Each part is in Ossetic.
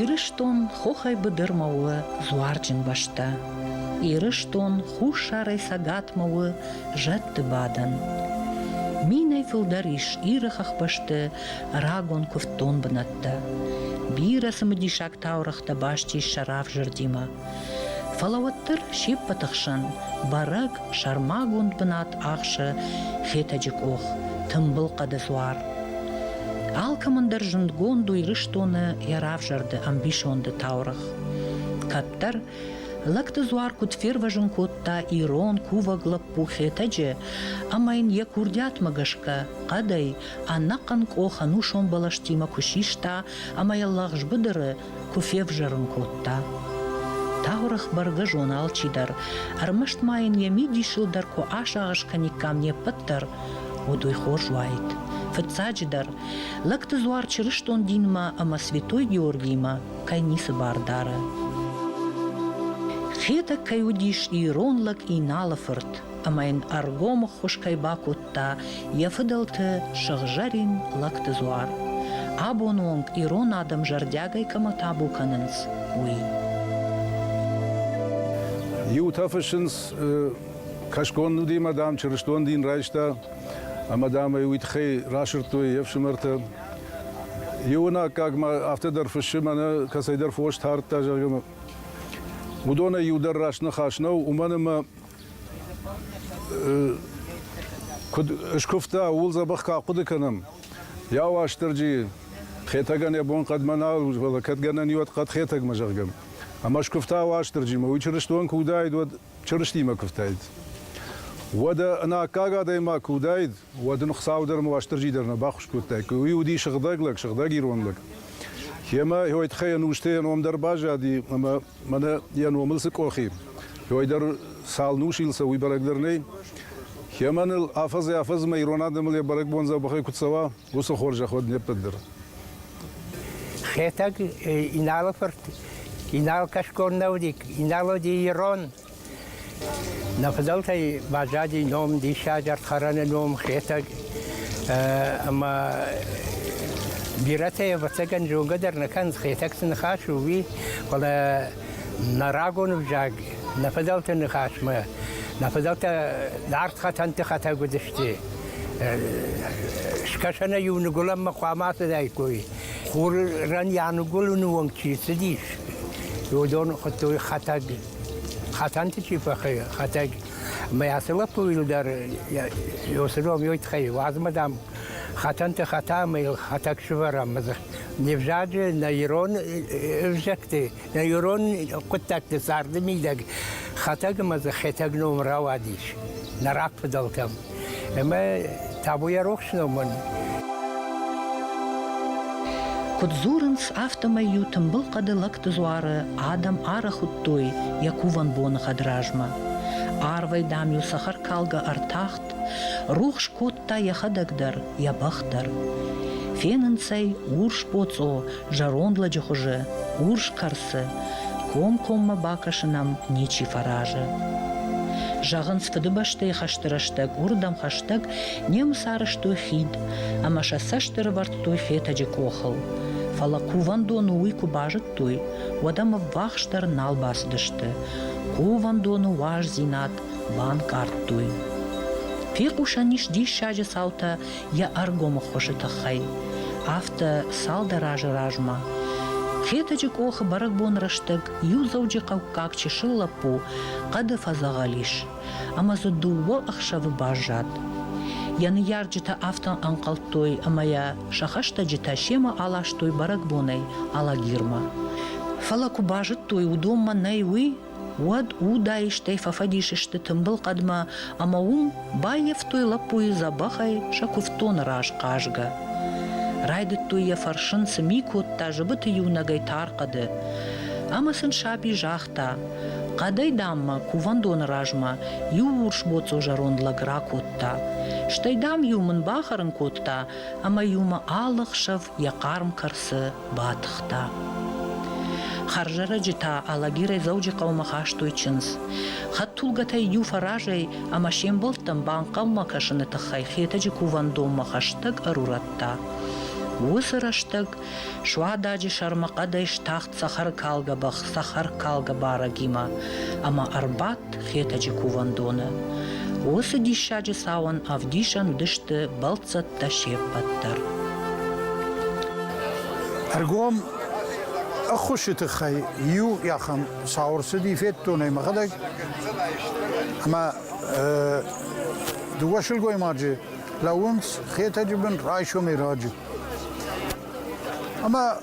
Ирыстон хохӕй быдырмӕ у дзуарджын бӕстӕ. Ирыстон хуссарӕй цӕгатмӕ у зӕдты бадӕн. Минӕй фылдӕр ис Иры хӕхбӕсты рагон куывддон бынӕттӕ. Бирӕ цымыдисаг таурӕгътӕ баст ис сӕ равзӕрдимӕ. Фӕлӕ уӕддӕр се ппӕты хсӕн бӕрӕг сӕрмагонд бынат ахсы Хетӕджы къох, тымбыл хъӕды дзуар. Алкӕмӕн дӕр зындгонд у Ирыстоны йӕ равзӕрды ӕмбисонды таурӕгъ. Кӕддӕр лӕгты дзуар куыд фервӕзын кодта ирон кувӕг лӕппу Хетӕджы ӕмӕ йын йӕ курдиатмӕ гӕсгӕ хъӕдӕй ӕнӕхъӕн къох ӕнусон бӕлӕстимӕ куы систа ӕмӕ йӕ лӕгъз быдыры куы февзӕрын кодта. Тагъуырых бӕргӕ зон алчидӕр, ӕрмӕст ма йын йӕ мидисыл дӕр куы асагъӕс кӕниккам не ппӕт дӕр, уӕд уый хорз уаид. Фыццаджыдӕр, лӕгты дзуар чырыстон динмӕ ӕмӕ Святой Георгиимӕ кӕй ницы бар дары. Хетӕг кӕй уыдис ирон лӕг Иналы фырт, ӕмӕ йын ӕргом ӕххуыс кӕй бакодта йӕ фыдӕлты сыгъзӕрин лӕгты дзуар, абоны онг ирон адӕм зӕрдиагӕй кӕмӕ табу кӕнынц, уый. Иутӕ фыссынц, кӕсгон Нудимӕ, дам, чырыстон дин райста, ӕмӕ, дам, ӕй уый тыххӕй расырдтой йе фсымӕртӕ. Иуын аккаг ма афтӕ дӕр фыссы, мӕнӕ кӕцӕйдӕр фос тардта, зӕгъгӕ. Уыдонӕй иу дӕр раст ныхас нӕу, уымӕн ӕмӕ Куыд скуывта, ууыл дзӕбӕх кӕ хъуыды кӕнӕм. Йӕ Уастырджийы, Хетӕгӕн йӕ бон хъӕдмӕ нал, фӕлӕ кӕд гӕнӕн и, уӕд хъӕд Хетӕгмӕ, зӕгъгӕ. Ӕмӕ скуывта Уастырджимӕ, уый чырыстон куы уыдаид, уӕд Чырыстимӕ куывтаид. Уӕдӕ ын аккаг адӕймаг куы уыдаид, уӕд ын Хуыцау дӕр ӕмӕ Уастырджи дӕр нӕ баххуыс кодтаиккой. Уый уыди сыгъдӕг лӕг, сыгъдӕг ирон лӕг. Йемӕ йой тыххӕй ӕнустӕ йӕ ном дӕр баззади, ӕмӕ Мӕнӕ йӕ номыл цы къохи. Уой дӕр цал нусил сӕ, уый бӕрӕг дӕр нӕй. Кемӕныл афӕдзӕй-афӕдзмӕ ирон адӕмыл йӕ бӕрӕгбон дзӕбӕхӕй куы цӕуа, уыцы хорзӕх уӕд не ппӕт дӕр. Хетӕг Иналы фырт Инал Кашкон нӕудик, Инало Ирон Нӕ фыдӕлтӕй баззади ном, диссаджы ӕрдхӕрӕны ном Хетӕг. Ӕмӕ бирӕтӕ ӕвӕццӕгӕн зонгӕ дӕр нӕ кӕнынц, Хетӕг цы ныхас у, уый, фӕлӕ нӕ рагон ӕвзаг, нӕ фыдӕлты ныхасмӕ, нӕ фыдӕлтӕ арт хатӕнты хатӕг уыдысты. Скӕсӕнӕ-иу ныгуылӕнмӕ хъуамӕ ацыдаиккой. Хурӕн йӕ ныгуылыны онг чи цыдис, уыдон хуыдтой хатӕг. Хатанти чи фӕхы хатӕг, мӕ ацы лӕппуйыл дӕр ёсыров ёйт хай, уадзмӕ дам хатанты хата ӕмӕ йыл хатӕг сывӕрӕм. Не взаджы нӕ ирон ӕвзӕгты, нӕ ирон хъуыддӕгты царды мидӕг хатӕг ӕмӕ дзы хетӕг ном рауадис нӕ рагфыдӕлтӕм. Ӕмӕ табуйӕ рохс номӕн. Куыд дзурынц, афтӕмӕй иу тымбыл хъӕды лӕгты дзуары адӕм ӕрхуыдтой йӕ кувӕн боны хӕдразмӕ. Арвӕй, дам-иу цӕхӕркалгӕ ӕртахт, рухс кодта йӕхӕдӕг дӕр, йӕ бӕх дӕр. Фенынц ӕй урс боцъо, зӕронд лӕджы хуызы урс кӕрцы, комкоммӕ бакӕсынӕм ничи фӕразы. Зӕгъынц Фыдыбӕстӕйы хӕсты рӕстӕг уырдӕм хӕстӕг немыц арызтой хид ӕмӕ сӕ цӕст ӕрывӕрдтой фетӕджы къохыл, фӕлӕ кувӕндоны уый куы базыдтой, уӕд ӕм ӕввахсдӕр нал бацыдысты. Кувӕндоны уӕздзинад банкъардтой. Фехъусӕн ис диссаджы цаутӕ йӕ ӕргомы хуызы тыххӕй. Афтӕ цалдӕр азы размӕ Хетӕджы къохы бӕрӕгбон рӕстӕг иу дзӕуджыхъӕуккаг чысыл лӕппу хъӕды фӕдзӕгъӕл ис ӕмӕ дзы дыууӕ ӕхсӕвы баззад. Йӕ ныййарджытӕ афтӕ ӕнхъӕлдтой, ӕмӕ йӕ сӕ хӕстӕджытӕ семӕ аластой бӕрӕгбонӕй Алагирмӕ. Фӕлӕ куы базыдтой, уыдонмӕ нӕй уый, Уӕд удаистӕй фӕфӕдис сты тымбыл хъӕдмӕ ӕмӕ уым баййӕфтой лӕппуйы дзӕбӕхӕй сӕ куывддоны раз хъазгӕ. Райдыдтой йӕ фӕрсын, цы ми кодта зыбыты иунӕгӕй тар хъӕды. Ӕмӕ сын саби загъта: Хъӕдӕй, даммӕ, кувӕндоны размӕ иу урс боцъо зӕронд лӕг ракодта. Стӕй, дам-иу мын бахӕрын кодта, ӕмӕ-иу мӕ алы хсӕв йӕ хъарм кӕрцы батыхта. Хӕрзӕрӕджы та Алагирӕй Дзӕуджыхъӕумӕ хастой чындз. Хӕдтулгӕтӕй иу фӕразӕй ӕмӕ се мбӕлттӕм банхъӕлмӕ кӕсыны тыххӕй Хетӕджы кувӕндонмӕ хӕстӕг ӕрурӕдта. Уыцы рӕстӕг суададжы сӕрмӕ хъӕдӕй стахт цӕхӕркалгӕ бӕх цӕхӕркалгӕ барӕгимӕ ӕмӕ ӕрбадт Хетӕджы кувӕндоны. Уыцы диссаджы цауӕн ӕвдисӕн уыдысты бӕлццӕттӕ се ппӕт дӕр. Ӕргом ӕххуысы тыххӕй иу ахӕм цау ӕрцыди федтонӕй мӕхӕдӕг ӕмӕ дыууӕ сылгоймаджы лӕууынц Хетӕджы бын райсомӕй раджы. Ӕмӕ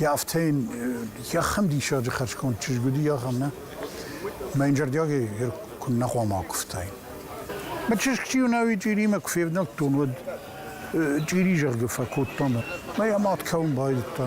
Йӕ афтӕ йын йӕхӕн диссаджы хӕрзконд чызг уыди, ахӕм нӕ. Мӕ йын зӕрдиагӕй куыннӕ хъуамӕ акуывтаин. Мӕ чызг чи уынӕуи чъиримӕ куы февнӕлдтон, уӕд чъири зӕрды фӕкодтон. Мӕ йӕ мад кӕуын байдыдта.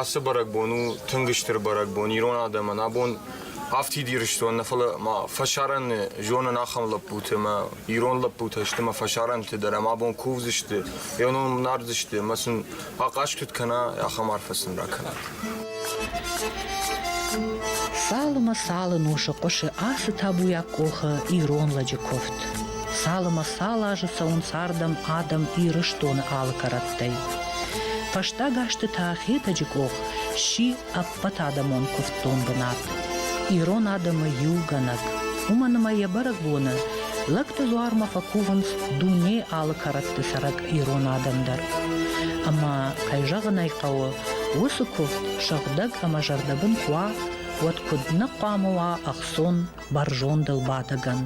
Ацы бӕрӕгбон у тынг стыр бӕрӕгбон ирон адӕмӕн. Абон афтид Ирыстон нӕ, фӕлӕ ма фӕсарӕн зонын ахӕм лӕппуты ӕмӕ ирон лӕппутӕ сты ӕмӕ фӕсарӕнты дӕр ӕмӕ абон кувдзысты, йӕ ном нардзысты ӕмӕ сын ахъаз куыд кӕна, ахӕм арфӕ сын ракӕна. Цалынмӕ цалын усы хъуысы ацы табуйаг къохы ирон лӕджы куывд. Цалынмӕ цал азы цӕуынц ардӕм адӕм Ирыстоны алы кӕрӕттӕй. Фӕстаг азты та Хетӕджы къох сси ӕппӕтадӕмон куывддон бынат. Ирон адӕмы иугӕнӕг. Уымӕн ӕмӕ йӕ бӕрӕгбоны лӕгты дзуармӕ фӕкувынц дуне алы кӕрӕтты цӕрӕг ирон адӕм дӕр. Ӕмӕ, кӕй зӕгъын ӕй хъӕуы, уыцы куывд сыгъдӕг ӕмӕ зӕрдӕбын куы уа, уӕд куыд нӕ хъуамӕ уа ӕхцон бӕрзондыл бадӕгӕн.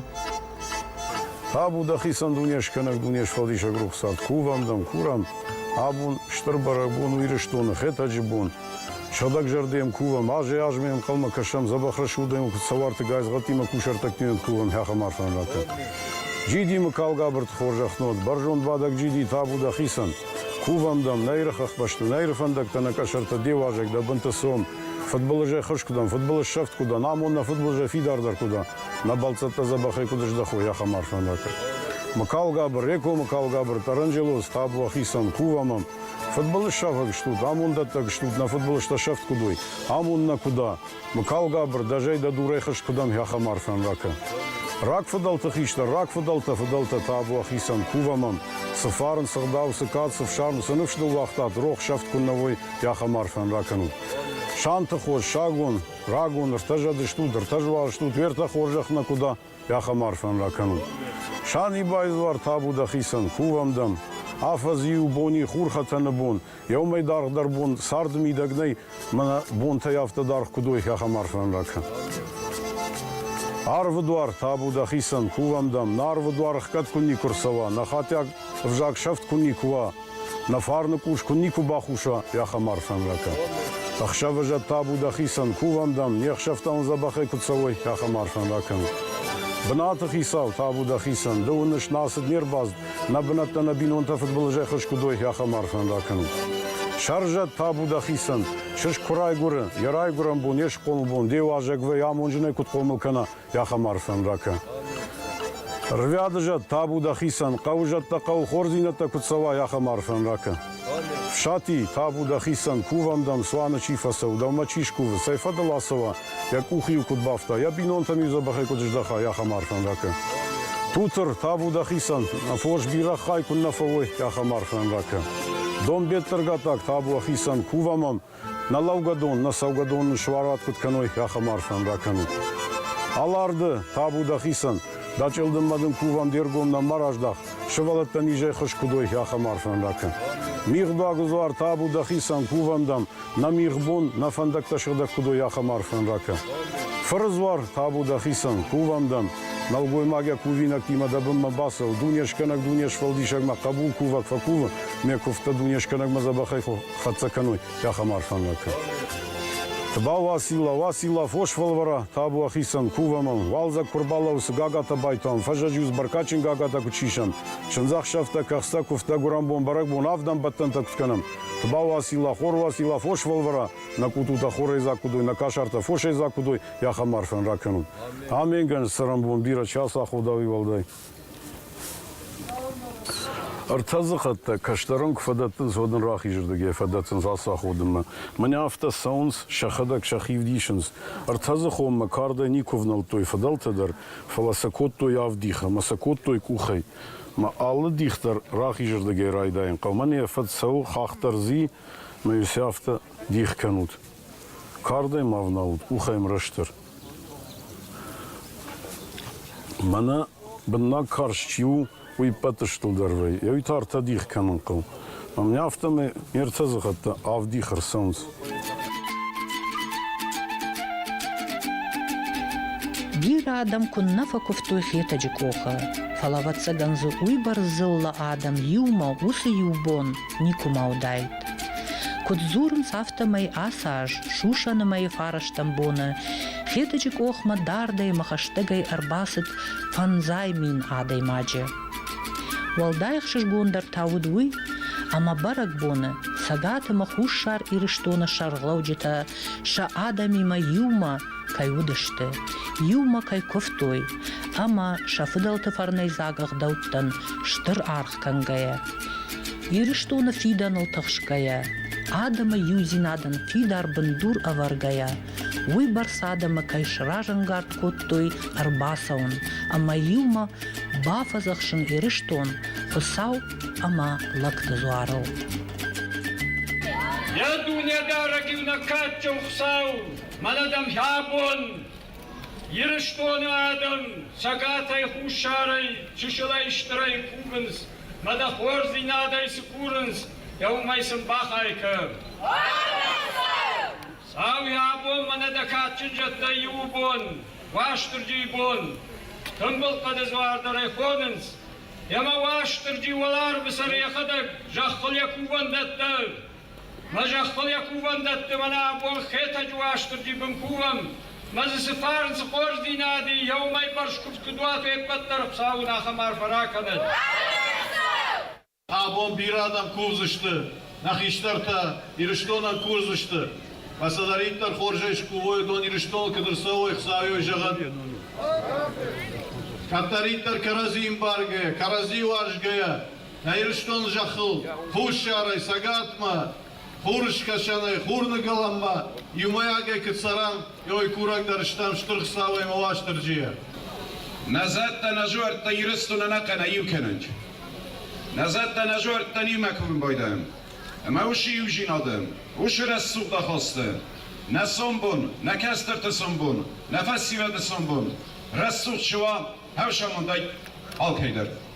Абу дӕхицӕн Дунескӕнӕг Дунесфӕлдисӕг рухсад, кувӕн дӕн, курӕн, абон стыр бӕрӕгбон у Ирыстоны, Хетӕджы бон. Сӕдӕгзӕрдӕ йӕм кувӕм, азӕй-азмӕ йӕм ӕнхъӕлмӕ кӕсӕм, дзӕбӕх рӕсугъдӕй куыд сӕ уарты гайдзгъӕдтимӕ кусӕрттӕгтимӕ кувӕм хӕхӕм арфӕн ракӕн. Джидимы калгабырты хорзӕх нуӕд, бӕрзондбадӕг джиди, табу дӕхицӕн! Кувӕм дӕм, нӕ Иры хӕхбӕсты, нӕ Иры фӕндӕгтӕ, нӕ къӕсӕртӕ, де уазӕг, дӕ бынты цом, Футболизӕй хӕрз куы дӕн, футболы ссӕфт куы дӕн, амон нӕ футболизӕй фидардӕр куы дӕ, нӕ бӕлццӕттӕ дзӕбӕхӕй куыд здӕхой, ахӕм арфӕндаг. Мыкалгабыр, Реко Мыкалгабыр, Таранджелоз, Табуа, хицӕн, Кувамӕ. Футболыссафӕг стут, амонддӕттӕг стут, нӕ футболисттӕ сӕфт куыд уой, амон нӕ куы дӕ. Мыкалгабыр, дӕ зӕй дӕ дурӕй хӕрз куы дӕн, ахӕм арфӕн ракӕ. Рагфыдӕлты хистӕр, рагфыдӕлтӕ, фыдӕлтӕ, Табуа, хицӕн, Кувамӕ. Цы фарн, цы гъдау, цы кад, цы фсарм, цы ныфс ныууагътат, рох сӕфт куыннӕ уой, Ахӕм арфӕн ракӕнут. Санты хос, сагон, рагон, ӕртӕ зӕдыстут, ӕртӕ зуарстут, уертӕ хорзӕх нӕ куыд а, ахӕм арфӕн ракӕнут. Сан и байдзуар табу дӕхицӕн, кувӕм дӕм. Афӕдзы-иу бони хурхӕтӕны бон, еу мӕй даргъдӕр бон цард мидӕг нӕй, мӕнӕ бонтӕй афтӕ даргъ куыд уой, ахӕм арфӕн ракӕн. Арвы дуар, табу дӕхицӕн, кувӕм дӕм, нӕ арвы дуар ӕхгӕд куы никуы рцӕуа, нӕ хатиаг ӕвзаг сӕфт куы никуы уа, Нӕ фарны къус куы никуы бахуса, ахӕм арфӕн ракӕн. Ӕхсӕвӕзӕт табу дӕхицӕн, кувӕндӕн, не хсӕвтӕ ун дзӕбӕхӕй куд цӕуой, ахӕм арфӕн ракӕн. Бынаты хицау, табу дӕхицӕн, ды уыныс, нӕ цыд не рбацыд, нӕ бынӕттӕ нӕ бинонтӕ фыдбылызӕй хызг куыд уой, ахӕм арфӕн ракӕн. Сӕрзӕд, табу дӕхицӕн, сыскъ куы райгуыры, йӕ райгуырӕн бон, йе схъомыл бон, де уазӕгвӕй амонджынӕй куыд хъомыл кӕна, Ахӕм арфӕн ракӕ. Рвӕды зӕд, табу дӕхицӕн, хъӕуы зӕдтӕ, хъӕуы хорздзинӕдтӕ куыд цӕуай, ахӕм арфӕн ракӕ. Фсати, табу дӕхицӕн, кувӕндӕн, цуаны чи фӕцӕуы, дӕумӕ чи скувы, цӕй фӕдыл ацӕуа, йӕ къух-иу куыд бафта, йӕ бинонтӕм-иу дзӕбӕхӕй куыд здӕхай, ахӕм арфӕн ракӕ. Тутыр, табу дӕхицӕн, фос бирӕгъ хай куыннӕ фӕуой, ахӕм арфӕн ракӕ. Донбеттыргатаг, табу ӕхицӕн, кувӕм ӕм, Нӕ лӕугӕдон, нӕ цӕугӕдон суарат куыд кӕной, ахӕм арфӕн ракӕнут. Аларды, табу дӕхицӕн, дӕ чъылдыммӕ дын кувӕн де ргом нӕма раздӕх, сывӕллӕттӕ низӕй хызт куыд уой, ахӕм арфӕн ракӕн. Мигъдуаг узуар, табу дӕхицӕн, кувӕн дӕм, нӕ мигъбон, нӕ фӕндӕгтӕ сыгъдӕг куыд уой, ахӕм арфӕн ракӕн. Фырдзуар, табу дӕхицӕн, кувӕн дӕм, нӕлгоймагӕ кувинӕгтимӕ дӕ бынмӕ бацӕу, дунескӕнӕг дуне сфӕлдисӕгмӕ хъӕбул кувӕг фӕкувы, ме куывдтӕ дунескӕнӕгмӕ дзӕбӕхӕй Хӕццӕ кӕнуй ахӕм арфӕнвӕдтӕ. Тбау ӕ силӕ, уӕ силӕ фос фӕлвӕрӕ, табу ӕхецӕн, кувӕмӕн, уалдзӕг ку рбалӕуса гагатӕ байтон, фӕззӕджиуз бӕркадджын гагатӕ ку сисӕн, синдзӕхсӕвтӕ, кӕхцӕ, кувтӕ, гуырӕнбон, бӕрӕгбон, авд ӕмбӕттӕнтӕ куд кӕнӕм. Тбау ӕ силӕ, хор уӕ силӕ фос фӕлвӕрӕ, нӕ къутутӕ хорӕйдзаг куд уой, нӕ кӕсӕртӕ фосӕйдзаг куд уой, е ахӕм арфӕн ракӕнун. Аменгӕн, ссарӕнбон, бирӕ час ӕ ходауи уӕлдай. Ӕртӕ дзыхӕттӕ кӕстӕрӕн куы фӕдӕттынц, уӕд ын рахизырдыг йӕ фӕдӕттынц ацы аходынмӕ. Мӕнӕ афтӕ цӕуынц, сӕхӕдӕг сӕ хивд исынц. Ӕртӕдзыхонмӕ кардӕй никуы ӕвнӕлдтой фыдӕлтӕ дӕр, фӕлӕ сӕ кодтой авдих ӕмӕ сӕ кодтой къухӕй. Мӕ алы дих дӕр рахизырдыгӕй райдайын хъӕумӕ, не фӕд цӕуы хӕхдӕрдзи, мӕ ус афтӕ, дих кӕнут. Кардӕй ма ӕвналут, къухӕй ӕмрӕстдӕр. Мӕнӕ быннаг карз чи у, уый иппӕт ыстылдӕр вӕййы, ӕви та ӕртӕ дих кӕнын хъӕуы. Ӕмӕ мӕ афтӕмӕй ме ртӕ дзыхӕттӕ авдих ӕрцӕуынц. Бирӕ адӕм куыннӕ фӕкуывтой Хетӕджы къохы, фӕлӕ, ӕвӕццӕгӕн дзы уыйбӕрц дзыллӕ адӕм иумӕ уыцы иу бон никуыма уыдаид. Куыд дзурынц, афтӕмӕй ацы аз сусӕны мӕйы фарӕстӕм боны Хетӕджы къохмӕ дардӕй-мӕхӕстӕгӕй ӕрбацыд фӕндзай мин адӕймаджы. Уӕлдай ӕхсызгондӕр та уыд уый, ӕмӕ бӕрӕгбоны Цӕгат ӕмӕ Хуссар Ирыстоны сӕргълӕуджытӕ сӕ адӕмимӕ иумӕ кӕй уыдысты, иумӕ кӕй куывтой ӕмӕ сӕ фыдӕлты фӕрнӕйдзаг ӕгъдӕуттӕн стыр аргъ кӕнгӕйӕ, Ирыстоны фидӕныл тыхсгӕйӕ, адӕмы иудзинадӕн фидар бындур ӕвӕргӕйӕ, уый бӕрц адӕмы кӕй сразӕнгард кодтой ӕрбацӕуын ӕмӕ иумӕ бафӕдзӕхсын Ирыстон Хуыцау ӕмӕ лӕгты дзуарыл. Йӕ Дунедарӕг иунӕг кадджын Хуыцау! Мӕнӕ дӕм абон Ирыстоны адӕм цӕгатӕй, хуссарӕй, чысылӕй, стырӕй кувынц, мӕ дӕ хорздзинадӕй цы курынц, дӕ уымӕй сын бахай кӕ. Сау йӕ абон мӕнӕ дӕ кадджын зӕдтӕй иуы бон, Уастырджийы бон. Тымбыл хъӕды дзуардарӕй хонынц, йӕ мӕ Уастырджи уӕларвы сӕр йӕхӕдӕг зӕххыл йӕ кувӕндӕттӕ Мӕ зӕхбӕл йӕ кувӕндӕтты мӕнӕ абон Хетӕджы Уастырджи бын кувӕм. Мӕ дзы цы фарн, цы хорздзийнади, еу мӕй бӕрц куывд куыд уат уе ппӕт дӕр Хуыцауӕн ахӕм арфӕ ракӕнӕд! Абон бирӕ адӕм кувдзысты, нӕ хистӕртӕ Ирыстонӕн курдзысты. Кӕцӕдӕриддӕр хорзӕй скувой, уыдон Ирыстоныл куыд ӕрцӕуой, Хуыцауӕй зӕгъӕн. Кӕддӕриддӕр кӕрӕдзи ӕмбаргӕйӕ, кӕрӕдзи уарзгӕйӕ, Ирыстон зӕххыл хуссарӕй, цӕгатмӕ, хурыскӕсӕнӕй, хурныгӕлӕнмӕ иумӕйагӕй куыд цӕрӕм, уый курӕг дӕр стӕм Стыр Хуыцау ӕмӕ Уастырджийӕ. Нӕ зӕдтӕ, нӕ зуӕрттӕ Ирыстоны ӕнӕхъӕн аиу кӕнӕнт. Нӕ зӕдтӕ, нӕ зуӕрттӕн иумӕ курын байдайӕм. Ӕмӕ уыцы иудзинады, уыцы рӕсугъд ахасты, нӕ сомбон, нӕ кӕстӕрты сомбон, нӕ фӕсивӕды сомбон рӕсугъд суа, хӕс амондӕй алкӕйдӕр.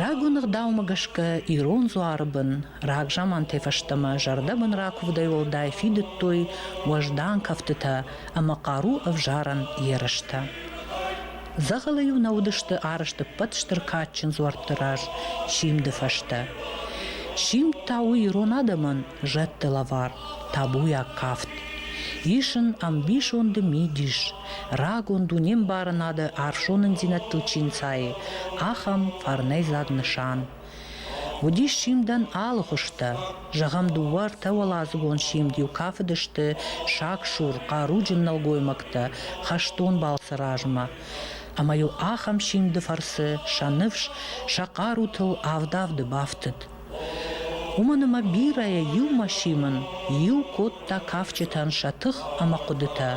Рагон ӕгъдаумӕ гӕсгӕ ирон дзуары бын рагзамантӕй фӕстӕмӕ зӕрдӕбын ракуывдӕй уӕлдай фидыдтой уӕздан кӕфтытӕ ӕмӕ хъару ӕвзарӕн ерыстӕ. Дзӕгъӕлы-иу нӕ уыдысты арызт ӕппӕт стыр кадджын дзуӕртты раз симды фӕстӕ. Симд та у ирон адӕмӕн зӕдты лӕвар, табуйаг кафт. Ис ын ӕмбисонды мидис, рагон дунембарынады ӕфсонындзинӕдтыл чи нцайы, ахӕм фӕрнӕйдзаг нысан. Уыдис симдӕн алы хуызтӕ. Зӕгъӕм, дыууӕ-ӕртӕ уӕладзыгон симд-иу кафыдысты сагсур, хъаруджын нӕлгоймӕгтӕ хӕстон балцы размӕ. Ӕмӕ-иу ахӕм симды фӕрцы сӕ ныфс сӕ хъарутыл авд-авды бафтыд. Уымӕн ӕмӕ бирӕ иу машимн иу кодта кафджытӕн сӕ тых ӕмӕ хъуыдытӕ,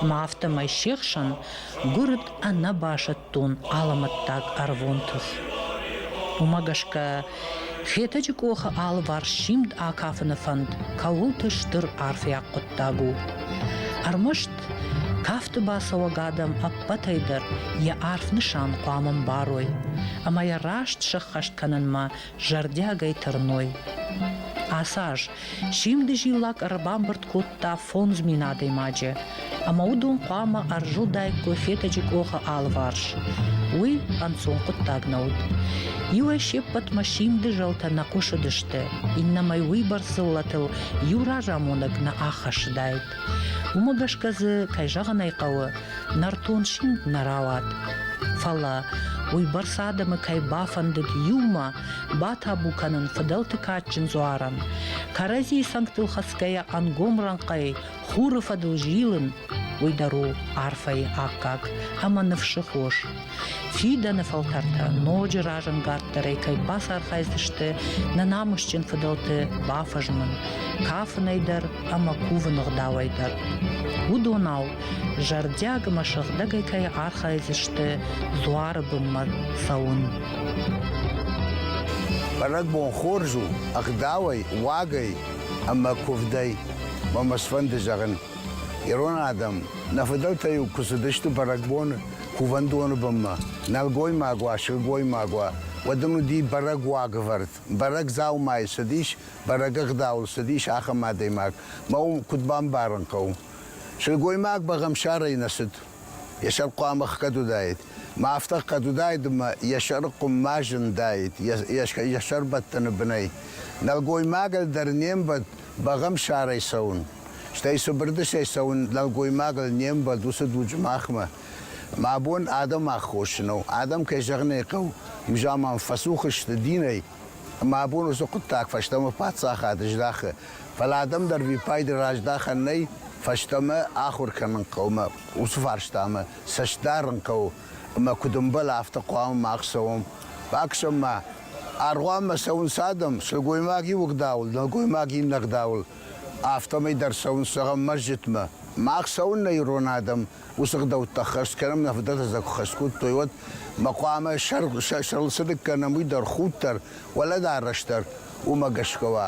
ӕмӕ афтӕмӕй се хсӕн гуырд ӕнӕ басӕттон алӕмӕттаг ӕрвон тых. Уымӕ гӕсгӕ Хетӕджы къохы алыварс симд акафыны фӕнд кӕуылты стыр арфӕйаг хъуыддаг у. Ӕрмӕст кафты бацӕуӕг адӕм ӕппӕтӕй дӕр йӕ арф нысан хъуамӕ мбарой ӕмӕ йӕ раст сӕххӕст кӕнынмӕ зӕрдиагӕй тырной. Ацы аз симды зиллакк ӕрбамбырд кодта фондз мин адӕймаджы, ӕмӕ уыдон хъуамӕ ӕрзылдаиккой Фетӕджы къохы алыварс. Уый ӕнцон хъуыддаг нӕ уыд. Иуӕй се ппӕтмӕ симды зӕлтӕ нӕ хъуысыдысты, иннӕмӕй уыйбӕрц дзыллӕтыл иу разамонӕг нӕ аххӕссыдаид. Уымӕ гӕсгӕ дзы, кӕй зӕгъын ӕй хъӕуы, нӕртон симд нӕ рауад. Фӕлӕ, уыйбӕрц адӕмы кӕй бафӕндыд иумӕ батабу кӕнын фыдӕлты кадджын дзуарӕн, кӕрӕдзийы цӕнгтыл хӕцгӕйӕ ӕнгом рӕнхъӕй хуры фӕдыл зилын, уый дӕр у арфӕйы аккаг ӕмӕ ныфсы хос. Фидӕны фӕлтӕртӕ ноджы разӕнгарддӕрӕй кӕй бацархайдзысты нӕ намысджын фыдӕлты бафӕзмын, кафынӕй дӕр ӕмӕ кувыны гъдауӕй дӕр. Уыдонау зӕрдиаг ӕмӕ сыгъдӕгӕй кӕй архайдзысты дзуары бынмӕ цӕуын. Бӕрӕгбон хорз у ӕгъдауӕй, уагӕй ӕмӕ куывдӕй. Мӕ мӕ сфӕнды зӕгъын, ирон адӕм, нӕ фыдӕлтӕ-иу куы цыдысты бӕрӕгбоны, кувӕндоны бынмӕ. Нӕлгоймаг уа, сылгоймаг уа, уӕд ын уыди бӕрӕг уагӕвӕрд, бӕрӕг дзаумайы цыдис, бӕрӕг ӕгъдауыл цыдис ахӕм адӕймаг. Мӕ уым куыд бамбарын хъӕуы? Сылгоймаг бӕгъӕмсарӕй нӕ цыд. Йӕ сӕр хъуамӕ хгӕд уыдаид. Ма афтӕ хгӕд уыдаид ӕмӕ йӕ сӕры къуыммӕ зындаид йӕ сӕрбӕттӕны бынӕй. Нӕлгоймагӕн дӕр не мбӕлд бӕгъӕмсарӕй цӕуын, стӕй цыбырдысӕй цӕуын нӕлгоймагыл не мбӕлд уыцы дуджы махмӕ. Мӕ бон адӕм аххосджыныл, адӕм кӕй зӕгъын ӕй хъӕуы, мзаман фӕцух сты динӕй. Мӕ бон уыцы хъуыддаг фӕстӕмӕ паддзахады здахы, фӕлӕ адӕм дӕр виппайды раздахӕн нӕй, фӕстӕмӕ ахуыр кӕнын хъӕуы мӕ уыцы фарстамӕ цӕст дарын хъӕуы. ӕмӕ куыд ӕмбӕлы, афтӕ хъуамӕ мах цӕуӕм. Бакӕсӕм-ма, аргъуанмӕ цӕуынц адӕм, сылгоймаг иу ӕгъдауыл, нӕлгоймаг иннӕ ӕгъдауыл, афтӕмӕй дӕр цӕуынц, зӕгъӕм, мӕсджытмӕ. Мах цӕуыннӕ ирон адӕм, уыцы ӕгъдӕуттӕ хӕс кӕнӕм, нӕ фыдӕлтӕ сӕ куы хӕс кодтой, уӕд ма хъуамӕ сӕрыл цы дыг кӕнӕм, уый дӕр, худ дӕр, уӕлӕдарӕс дӕр уымӕ гӕсгӕ уа.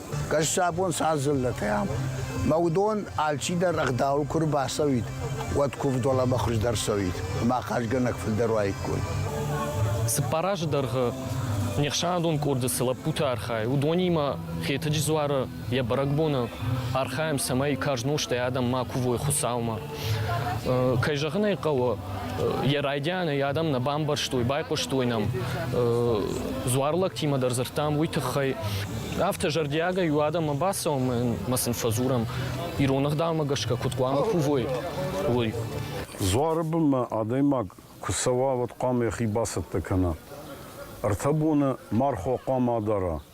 Гӕссабон цал дзыллӕтӕй ам, мӕ уыдон алчидӕр ӕгъдауыл куы рбацӕуид, уӕд куывдуӕлӕмӕ хуыздӕр цӕуид, ӕмӕ ахъазгӕнӕг фылдӕр уаиккой. Цыппар азы дӕргъы не хсӕнадон къорды цы лӕппутӕ архайы, уыдонимӕ Хетӕджы дзуары йӕ бӕрӕгбоны архайӕм, цӕмӕй карз нозтӕй адӕм ма кувой Хуыцаумӕ. Кӕй зӕгъын ӕй хъӕуы, йӕ райдианы йӕ адӕм нӕ бамбӕрстой, байхъуыстой нӕм. Дзуар лӕгтимӕ дӕр дзырдтам уый тыххӕй. Афтӕ зӕрдиагӕй у адӕммӕ бацӕуӕм ӕмӕ сын фӕдзурӕм, ирон ӕгъдаумӕ гӕсгӕ куыд хъуамӕ кувой, уый. Дзуары бынмӕ адӕймаг куы цӕуа, уӕд хъуамӕ йӕхи бацӕттӕ кӕна. Ӕртӕ боны мархо хъуамӕ адара,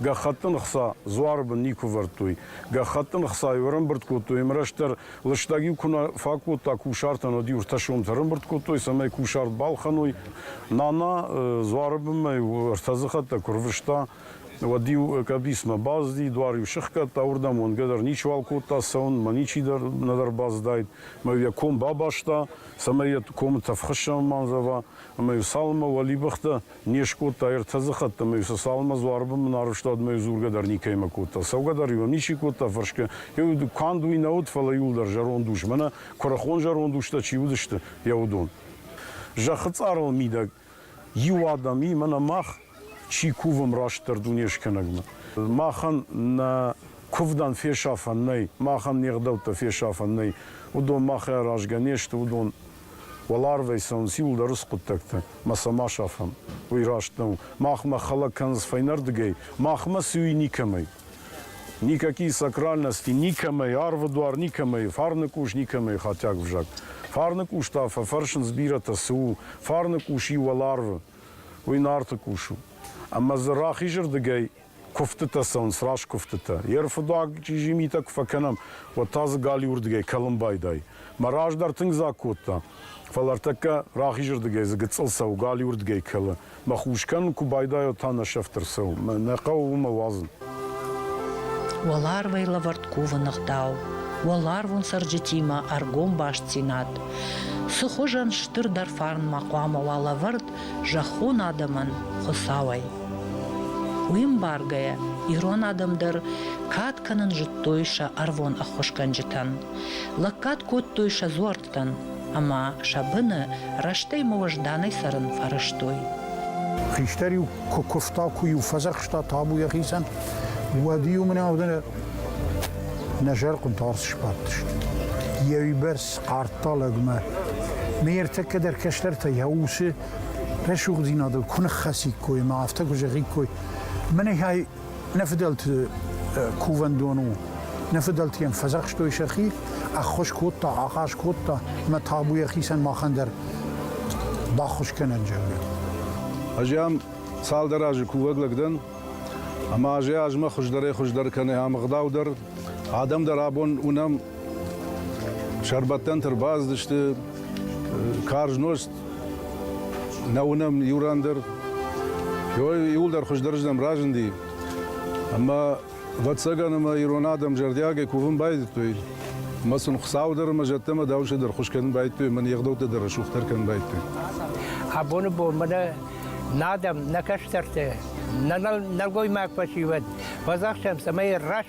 гӕххӕтты ӕхца дзуары бын никуы вӕрдтой. Гӕххӕттын ӕхцайы ӕрӕмбырд кодтой ӕмӕ рӕстӕр лыстӕг-иу куы нӕ фӕкодта кусартӕн, уӕд-иу ӕртӕсомтӕ ӕрӕмбырд кодтой, цӕмӕй кусарт балхӕной. Нана дзуары бынмӕ-иу ӕртӕдзыхӕттӕ куы рвыста, уӕд-иу къӕбицмӕ баззи, дуар-иу сыхгӕдта, уырдӕм уӕнгӕ дӕр ничиуал кодта цӕуын, мӕ ничи дӕр нӕдӕр баззыдаид, мӕ-иу йӕ ком бабаста, цӕмӕй йӕ комы тӕф хуыссӕн ма ӕндзӕва, ӕмӕ-иу цалынмӕ уӕлибӕхтӕ Не скодта ӕртӕдзыхатт ӕмӕ иу Сосалынмӕ дзуарыбын мын арвыста ӕмӕ йӕ дзургӕ дӕр никӕимӕ кодта. Цӕугӕ-дӕр иу ӕм ничи кодта фӕрсгӕ. Иу дукканд уый нӕ уыд, фӕлӕ иууылдӕр зӕронд ус, мӕнӕ куырыхон зӕронд устӕ чи уыдысты, йӕ уыдон. Зӕххы цъарыл мидӕг иу адӕм и, мӕнӕ мах чи кувӕм растдӕр Дунескӕнӕгмӕ. Махӕн нӕ куывдӕн фесафӕн нӕй, махӕн не гъдӕуттӕ фесафӕн нӕй, уыдон махӕй аразгӕ не сты, уыдон Уӕларвӕй сӕн циуылдӕр схъуыддӕгты мӕ цӕмӕ сафӕм, уый раст нӕу. Махмӕ хӕлӕг кӕндзы фӕйнӕрдыгӕй, махмӕ суй никӕмӕй. Никакие сакральности, никӕмӕй, арвы дуар никӕмӕй, фарны къус никӕмӕй хатиаг взаг. Фарны къус та фӕфӕрсынц бирӕтӕ, цы у? Фарны къус и уӕларвы. Уый Нарты къус у. Ӕмӕ дзы рахизырдыгӕй куывдтытӕ цӕуынц, раст куывдтытӕ. Йе рфыдуаг чъизи митӕ куы фӕкӕнӕм, уӕд та дзы галиуырдыгӕй кӕлын байдайы. Мӕ раздӕр тынг дзаг кодта, фӕлӕ ӕртӕккӕ рахизырдыгӕй дзы гыццыл цӕуы, галиуырдыгӕй кӕлы. Мӕ хус кӕнын куы байдайа, та нӕ сӕфт ӕрцӕуы. Нӕ хъӕуы уымӕ уадзын. Уӕларвӕй лӕвӕрд кувы ныгъдау, уӕларвон цӕрджытимӕ ӕргом бастдзинад. Цы хуызӕн стырдӕр фарн ма хъуамӕ уа лӕвӕрд, зӕххон адӕмӕн Хуыцауӕй. Уый мбаргӕйӕ, ирон адӕм дӕр кад кӕнын зыдтой сӕ ӕрвон ӕххуысгӕнджытӕн, лӕггад кодтой сӕ дзуӕрттӕн ӕмӕ сӕ быны рӕстӕй-ма уӕзданӕй цӕрын фӕрӕзтой. Хистӕр-иу куы куывта, куы-иу фӕдзӕхста табу йӕхицӕн, уӕд-иу мын ӕвдыны нӕ зӕрхъуынты арц сбадтысты. Йӕ уыйбӕрц Ардталӕгмӕ. Ме ӕртӕккӕ дӕр кӕстӕртӕ йӕ усы рӕсугъддзинадыл куы ныххӕциккой ӕмӕ афтӕ куы зӕгъиккой, мӕнӕй нӕ фыдӕлты кувӕндон у. Нӕ фыдӕлты йӕм фӕдзӕхстой сӕхи, ӕххуыс кодта, ахъаз кодта, ӕмӕ табу йӕхицӕн махӕн дӕр баххуыс кӕнӕн, зӕгъгӕ. Ӕз ам цалдӕр азы кувӕг лӕг дӕн, ӕмӕ азӕй азмӕ хуыздӕрӕй-хуыздӕр кӕны ам ӕгъдау дӕр. Адӕм дӕр абон уынӕм Сӕрбӕттӕнтӕ ӕрбацыдысты карз нозт, нӕ уынӕм иу ран дӕр. Иууылдӕр хуыздӕрырдӕм разынди. Ӕмӕ, ӕвӕццӕгӕн, ӕмӕ ирон адӕм зӕрдиагӕй кувын байдыдтой. Ӕмӕ сын Хуыцау дӕр ӕмӕ зӕдтӕ ӕмӕ дауынсӕ дӕр хуыз кӕнын байдыдтой ӕмӕ не гъдӕуттӕ дӕр рӕсугъддӕр кӕнын байдыдтой. Абоны бон мӕнӕ нӕ адӕм, нӕ кӕстӕртӕ, нӕ нӕлгоймаг фӕсивӕд, фӕдзӕхсӕм, цӕмӕй раст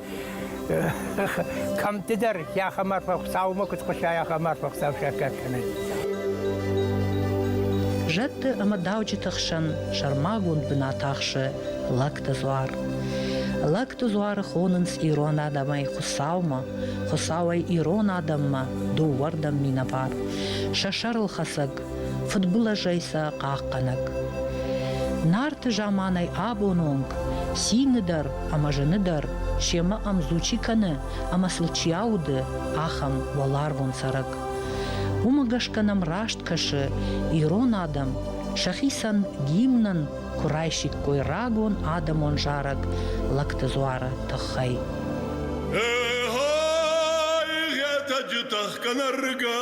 Кӕмддӕр яхамарфа хуцаумӕ куд хуса, яхамарфа хуцау саккаг кӕнӕн. Зӕдты ӕмӕ дауджыты хсӕн сӕрмагонд бынат ахсы лӕгты дзуар. Лӕгты дзуары хонынц ирон адӕмӕй Хуыцаумӕ, Хуыцауӕй ирон адӕммӕ, дыууӕрдӕм минӕвар. Сӕ сӕрылхӕцӕг фыдбылызӕй сӕ хъахъхъӕнӕг. Нарты заманай абон онг цины дӕр ӕмӕ зыны дӕр семӕ ӕмдзучи кӕны ӕмӕ сыл чи ауды, ахӕм уӕларвон цӕрӕг. Уымӕ гӕсгӕ нӕм раст кӕсы ирон адӕм сӕхицӕн гимнӕн куы райсиккой рагон адӕмон зарӕг лӕгты дзуары тыххӕй. Эй-ай, етӕ джы тӕхгӕ нӕргӕ,